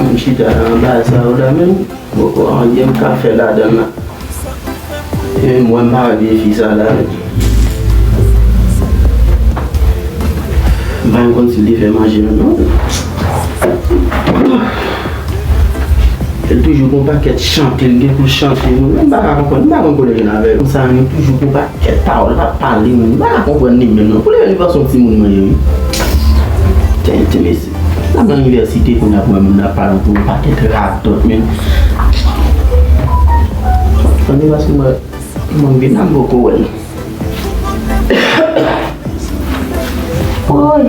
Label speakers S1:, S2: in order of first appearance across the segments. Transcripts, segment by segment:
S1: Mwen chita nan anbasad la menm poko anyen m ka fè ladan l la. Epi m wè m pa wè vye fi sa la menm. M pa konn si l te fè manje menm non. Li toujou gon pakèt chante li gen pou l chante nou. M pa ka konprann, m pa konn kote l gen avè l. Moun sa yo gen toujou gon pakèt pawòl y ap pale nou. M pa ka konprann li menm non. Pou li menm li panse se yon timoun mwen ye wi. Tenten mesye. Wap nan inivèsite kounye a pou wè moun ap pale anpil yon pakèt radòt men Anmweyy paske mwen mwen vin la m poko wè l
S2: Woyy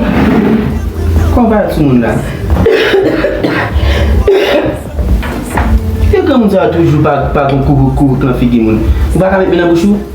S1: Kòm pa yon timoun la Eske granmoun sa yo toujou pa gon koukoukouk nan figi moun Ou pa ka met men nan bouch ou?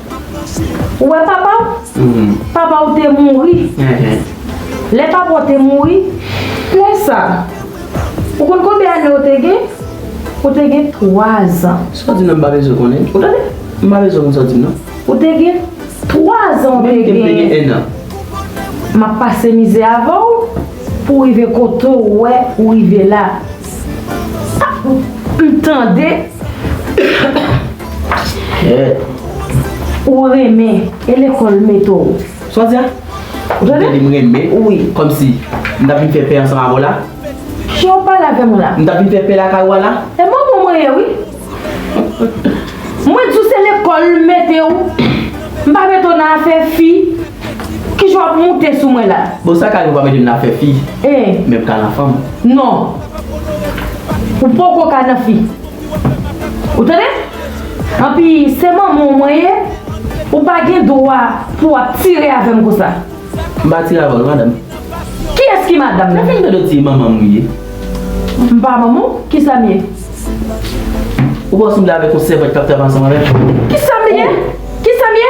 S2: Ou wè papa w? Papa w te mouri. Lè papa w te mouri, lè sa a, ou konn konbyen ane w te gen? Ou te gen twazan. Sa w di la m pa bezwen
S1: konnen. Ou tande? M pa bezwen
S2: konn sa w di m
S1: nan. Ou te gen
S2: twazan w te genyen. Menm ke m te gen ennan.
S1: M ap
S2: pase mizè avè w pou w rive kote w wè ou rive la. M tande. Ou renmen e lekòl mete w. Sa w di a?
S1: Ou ta vle di m
S2: renmen? Wi. Kòmsi?
S1: M ta vin fè pè ansanm avè w la? Jan w pale
S2: avè m la. M ta vin fè pè lakay ou a
S1: la? E manman mwen ye wi.
S2: Mwen di w se lekòl m mete w. M pa mete w nan afè fi. Kijan wap moute sou mwen la. Bon sa kay ou pa mete m nan
S1: afè fi men pka nan fanm. Non
S2: ou poko ka nan fi ou tande anpi se manman w mwen ye ou pa gen dwa pou ap tire avè m konsa. M pa tire avè w
S1: non madam. Kiyès ki
S2: madam nan? Sa fè m tande w di manman m
S1: ou ye. M pa
S2: manman w kisa m ye?
S1: Ou pa w sanble avèk yon sèvant kap travay ansanm avè m? Kisa m ye?
S2: Kisa m ye?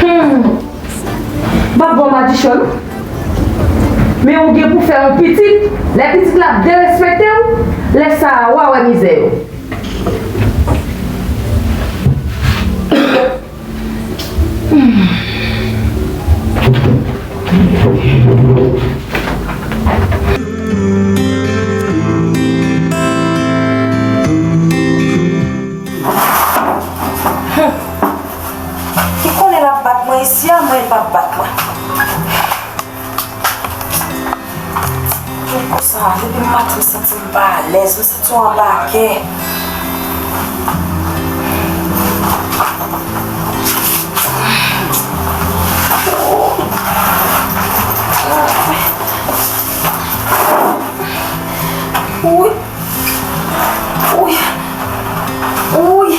S1: Humm
S2: pap bon madichon non men ou gen pou fè yon pitit lè pitit la ap derespektew lè sa a wa wè mizè yo.
S3: Li konnen lap bat mwen isi a m'en li pap bat mwen. Kèk kou sa depi m pati m santi m pa alèz, m santi w anba kè. Wouyy. Wouyy. Wouyy.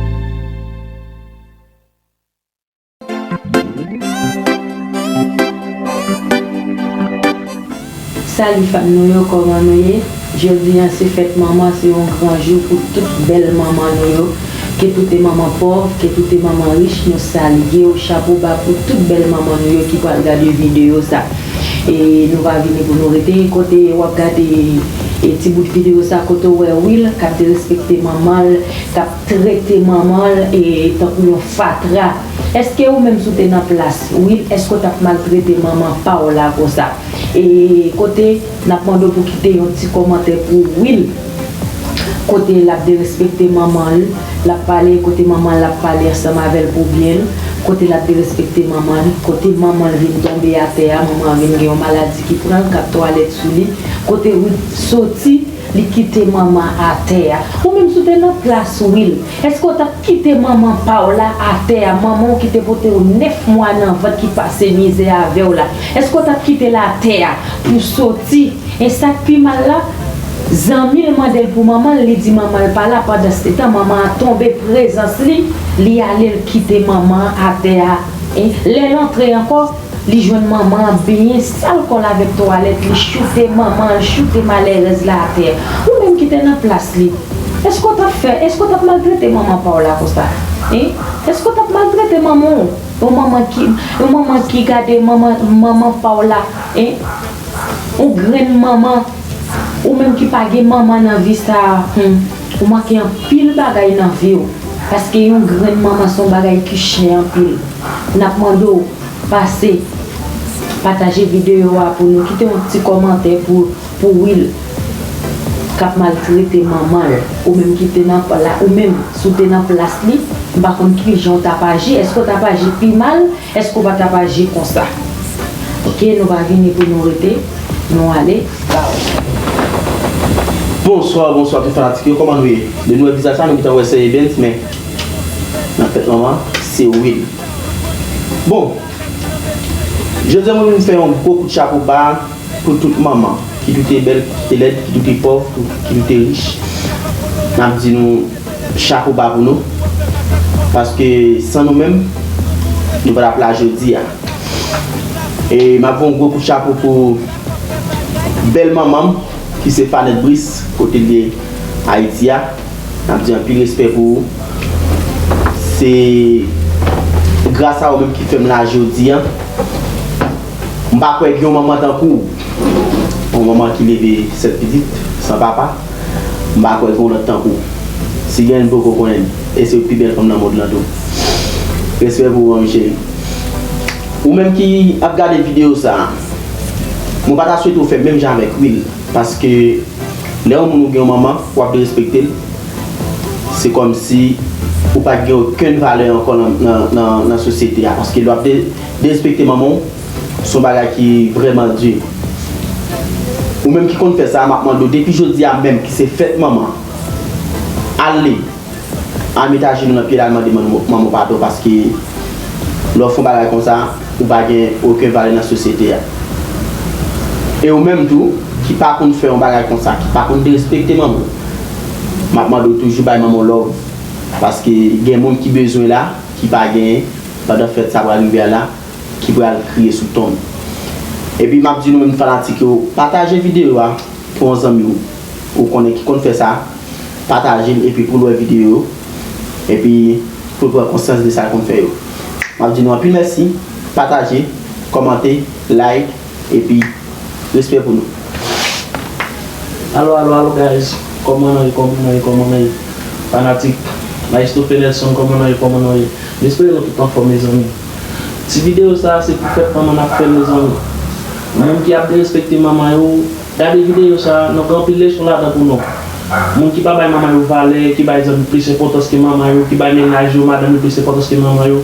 S2: Salut fanm nou yo koman nou ye jodi an se fèt manman se yon gran jou pou tout bèl manman nou yo ke tou te manman pòv ke tou te manman rich nou salyew chapo ba pou tout bèl manman nou yo ki pral gade video sa e nou pa vini pou nou rete kote wap gade ti bout video sa kote ou wè Will kap derespekte manmanl kap trete manmanl tankou yon fatra eske ou menm si w te nan plas Will eske w tap maltrete manman paw la konsa e kote nap mande w pou kite yon ti komantè pou Will kote lap derespekte manmanl lap pale kote manmanl ap pale ansanm avèl pou byenl kote lap derespekte manmanl kote manmanl vin tonbe atè a manman vin gen yon maladi ki pranl kap twalèt sou li kote Will soti. Li kite manman atè a. Ou menm si w te nan plas Will, èske w t ap kite manman pa w la atè a, manman w ki te pote w 9 mwa nan vant ki pase mizè avè w la, èske w t ap kite l atè a pou w soti? E sa k pi mal la, zanmi l mande l pou manman l, li di manman l pa la, pandansetan manman an tonbe prezans li, li ale l kite manman an atè a. Lè l antre ankò. Li jwenn manman ap benyen sal kòl avèk twalèt li choute manman an choute malèrèz la atè ou menm ki te nan plas li eske w tap fè eske w tap maltrete manman paw la konsa hein eske w tap maltrete manman w yon manman ki yon manman ki gade manman manman paw la hein yon grenn manman ou menm ki pa gen manman nan vi sa humm. Ou manke anpil bagay nan viw paske yon grenn manman son bagay ki chè anpil nap mande w pase pataje video a pou nou kite yon ti komantè pou pou will kap maltrete manman l ou menm ki te nan ou menm si w te nan plas li m pa konn kijan w tap aji eske w tap aji pi mal Eske ou pa tap aji konsa. Ok nou pa vini pou nou rete nou ale baww.
S1: Bonswa bonswa tout fanatik yo kòman nou ye lè nou wè vizaj sa nou gentan wè sè Evens men nan tèt manman se Will bon jodi an mwen vin fè yon gwo kout chapo ba Pou tout manman, kit ou te bèl, kit ou te lèd, kit ou te pòv, kit ou te rich, n ap di nou chapo ba pou nou. Paske san nou menm, nou pa t ap la jodi a. E m ap voun gwo kout chapo pou bèl manman m ki se Fanette Brice, kote l ye Ayiti a. N ap di anpil respè pou ou. Se gras a ou menm ki fè m la jodi a. M pa kwè gen yon manman tankou w Yon manman ki leve 7 pitit san papa M pa kwè gen yon lòt tankou w Si gen, m poko konnen l E se yon pi bèl fanm nan mond lan tou Respè pou ou anvi cheri Ou menm ki ap gade videyo sa a Mwen pa ta swete ou fè menm jan avèk Will Paske lè yon moun ou gen yon manman w ap derespekte l Se kòmsi ou pa t gen okenn valè ankò nan sosyete a Paske lè w ap Derespekte manman w se yon bagay ki vrèman di. Ou menm ki konn fè sa a, m ap mande w depi jodi a menm ki se fèt manman, al li, al met ajenou nan pye l al mande manman w padon paske lè w fè yon bagay konsa, ou pa gen oken valè nan sosyete a. E ou menm tou ki pa konn fè yon bagay konsa, ki pa konn derespekte manman w, m ap mande w toujou bay manman w love paske gen moun ki bezwen la ki pa genyen. Pandan fèt sa pral rive a la ki pral kriye sou tonm. Epi map di nou menm fanatik yo pataje video a pou yon zanmi w ou konnen ki konn fè sa pataje l epi pou l wè video yo epi pou l pran konsyans de sa l konn fè yo. Map di nou anpil mèsi pataje kòmante like. Epi respè pou nou. Alo alo
S4: alo guys kòman nou ye kòman nou ye kòman nou ye fanatik maestro Phelelson kòman nou ye kòman nou ye m espere nou tout anfòm mezanmi ti video sa se pou fèt manman nap fèl mezanmi moun ki ap derespekte manman yo gade video sa nan gen anpil leson ladan pou nou moun ki pa bay manman yo valè ki bay zanmi plis enpòtans ke manman yo ki bay mennaj yo madanm yo plis enpòtans ke manman yo.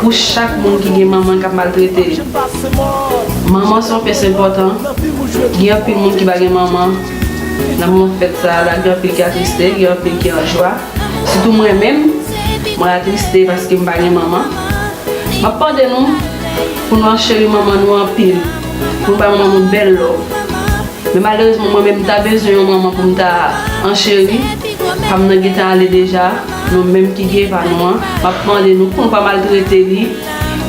S2: Pou chak moun ki gen manman kap maltrete li. Manman se yon pyès enpòtan, gen anpil moun ki pa gen manman nan moman fèt sa la gen anpil ki atriste, gen anpil ki an jwa. Sitou mwen menm, mwen atriste paske m pa gen manman. Map mande nou pou nou an cheri manman nou anpil, pou nou bay manman nou bèl love. Men malerezman mwen menm m ta bezwen yon manman pou m ta an cheri, pa m nan gentan ale deja. Nou menm ki gen pa nou an, map mande nou pou nou pa maltrete li,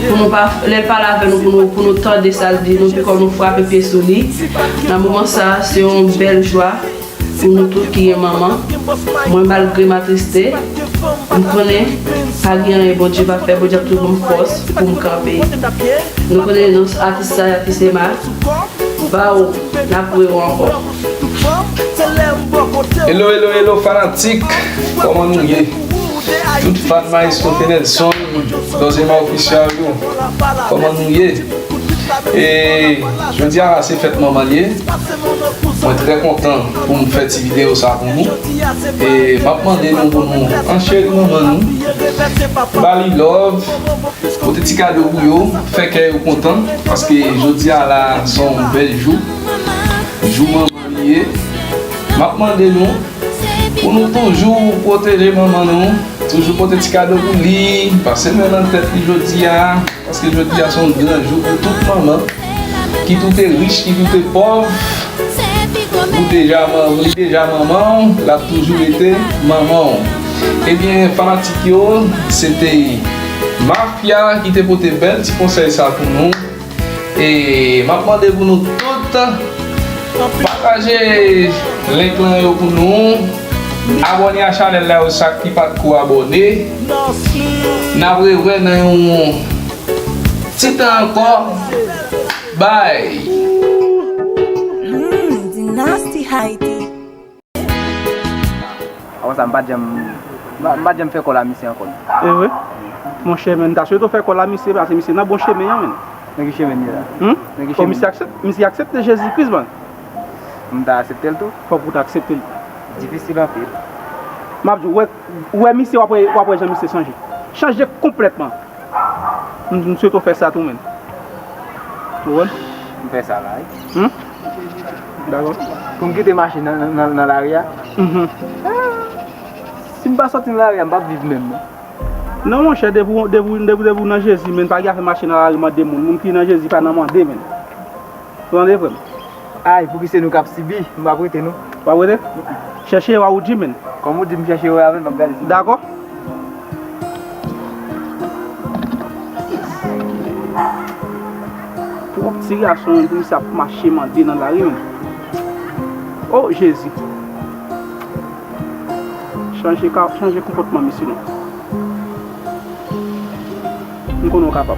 S2: pou nou pa, lè l pale avè nou pou nou, pou nou tande sa l di nou pi kon nou frape pye sou li. Nan moman sa a, se yon bèl jwa pou nou tout ki gen manman. Mwen malgre m atriste, m konnen pa gen anyen Bondye pa fè, Bondye ap toujou ban m fòs pou m kanpe. Nou konnen non atis sa y atis Emma, Bawo, n ap wè w ankò.
S5: Hello hello hello fanatik Koman nou ye Tout fan maestro Fenelson Dozema official yo Koman nou ye E jodi a la se fèt manman li Mwen trè kontan pou m fè ti video sa pou nou E m ap mande nou pou nou ancheri manman nou Ba li love Pote ti kado pou yo Fè kè yo kontan Paske jodi a la son bèl jou Jou manman nou ye, m ap mande nou pou nou toujou pwoteje manman nou, toujou pote ti kado pou li, pase men nan tèt li jodi a, paske jodi a se yon gran jou pou tout manman, kit ou te rich, kit ou te pòv, ou deja manman, li deja manman w, l ap toujou rete manman w. Ebyen fanatik yo, se te Mafya ki te pote bèl ti konsèy sa pou nou. E map mande pou nou tout Pataje link lan yo pou nou Abone a chanel la yo sak ki pat ko abone Nap re wè nan yon Ti tan ankò Bye.
S6: Avan sa m pat janm m pat janm fè kòl a misye ankò non. Evre?
S7: Monchè men m ta swete w fè kòl a misye pase misye nan bon chemen an men. Nan ki chemen m ye la?
S6: Hum? Nan ki chemen m ye?
S7: Misye aksepte Jezi Kris man. Pou m ta
S6: aksepte l tou? Fòk ou ta aksepte l.
S7: Difisil anpil.
S6: M ap di w,
S7: ou wè misye w ap wè w ap wè jan misye chanje. Chanje konplètman. M swete w fè sa tou men. Ou wè? M fè sa la wi.
S6: Hum?
S7: Dakò. Pou m kite
S6: machin nan nan lari a? Si m pa soti nan lari a, m pap viv menm non. Non monchè,
S7: depi w depi w nan Jezi menn, pa gen afè mache nan lari mande moun. Moun ki nan Jezi pa nan mande menn. Ou tande frè m? Ay, pouki
S6: se nou k ap sibi, m pap rete non. Ou pap rete?
S7: Chèche yo a ou di menn. Kòm ou di m chèche yo
S6: a menn m ap gade si. Dakò.
S7: Twòp ti gason menn pou misye ap mache mande nan lari menn. O Jezi. Chanje ka chanje konpòtman misye non. M konnen ou kapab.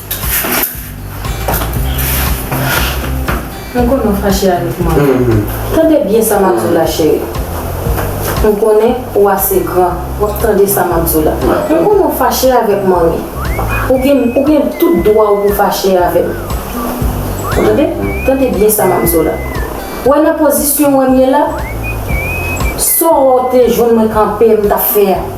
S2: Mwen konnen ou fache avèk mwen. Tande byen sa m ap di w la cheri. Mwen konnen ou ase gran. W ap tande sa m ap di w la. Mwen konnen ou fache avèk mwen wi. Ou gen ou gen tout dwa w pou fache avè m. Ou tande? Tande byen sa m ap di w la. Ou wè nan pozisyon w wè m ye la? Sa w wè w te jwenn mwen kanpe m t ap fè a?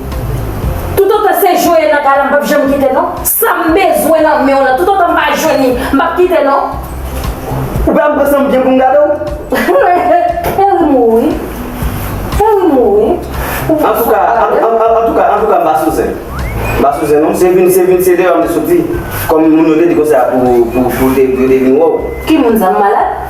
S8: Tout otan se Joel nan kay la mpap janm kite non. Sam bezwen nan menw lan tout otan mpa jwenn li mpap kite non. Ou pa
S9: konprann sam gen poum gade w. Fè
S8: rim ou wi. Fè rim ou wi. Antouka
S9: antouka antouka mpa sou zen. Mpa sou zen non. Se vin se vin se deyò mte soti. Kòm moun yo te di konsèa pou pou pou yo te vin wèw. Ki moun sa m malad?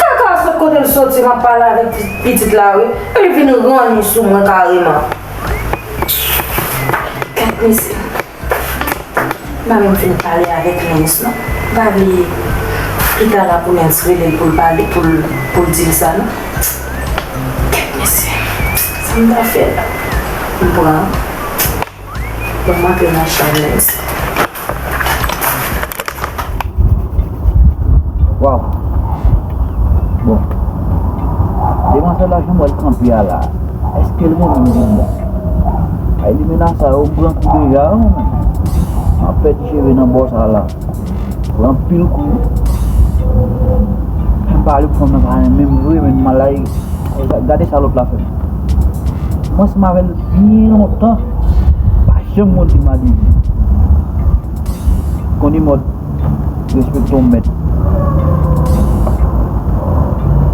S8: Kaka a sot kote l soti map pale avèk pitit la wi e li vin ranni sou mwen kareman. Gad mesye m pa menm fin pale avèk Lens non m pa vle pita la pou Lens rele l pou l pale pou l di l sa non. Gad mesye sa m ta fè la m pran. Mwen
S10: antre nan chanm mwen isit. Waw. Bon. Demwazèl la janm wèl kanpe a la. Eskel renmen m vin bon. Ay limena sa yo m pran kou deja. Map pèdi cheve nan bò sa la. Pran pil kou. Mwen pa ale pran mwen pa renmen m vre men malay. Gade sa lòt la fè. Mwen se mavel byen lontan. Pa janm mwen di madi. Koni mòd. Respekte yon mèt.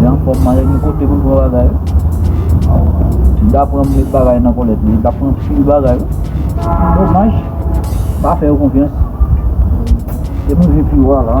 S10: Li anfòm man gen kote pou l pran bagay wi. Li ta pran met bagay nan kòlèt li, li ta pran pil bagay wi. Domaj, m pa fè yo konfyans. Se pou vin pi wa la.